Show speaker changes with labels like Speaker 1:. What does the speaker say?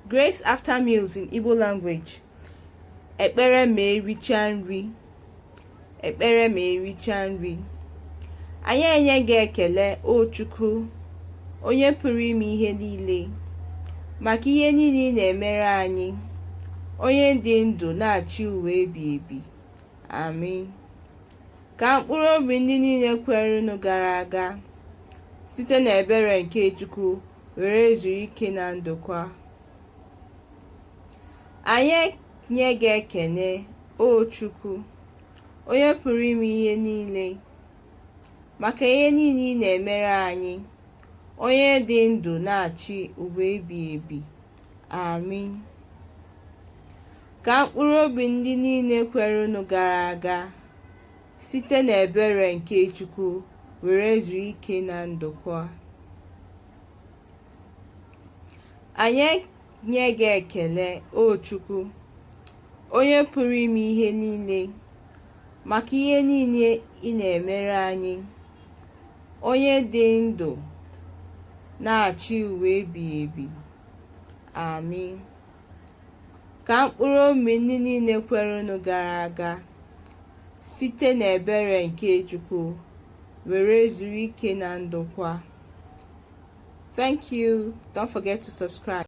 Speaker 1: Grace after meals in Igbo language. Ekpere ma ericha nri. Ekpere ma ericha nri. Anyị enye gị ekele o Chukwu, onye pụrụ ime ihe niile, maka ihe niile ị na-emere anyị, onye dị ndụ na-achị ụwa ebighị ebi. Amin. Ka mkpụrụ obi ndị niile kwerenụ gara aga site n'ebere nke Chukwu were zuo ike na ndokwa. Anyị nye gị ekene, O Chukwu, onye pụrụ ime ihe niile, maka ihe niile ị na-emere anyị, onye dị ndụ na-achị ụwa ebighị ebi. Amin. Ka mkpụrụ obi ndị niile kwerenụ gara aga Site n'ebere nke Chukwu were zuo ike na ndokwa. Anyị nye gị ekele, O Chukwu, onye pụrụ ime ihe niile, maka ihe niile ị na-emere anyị, onye dị ndụ na-achị ụwa ebighị ebi. Amin. Ka mkpụrụ obi ndị niile kwerenụ gara aga site n'ebere nke Chukwu were zuru ike na ndokwa. Thank you. Don't forget to subscribe.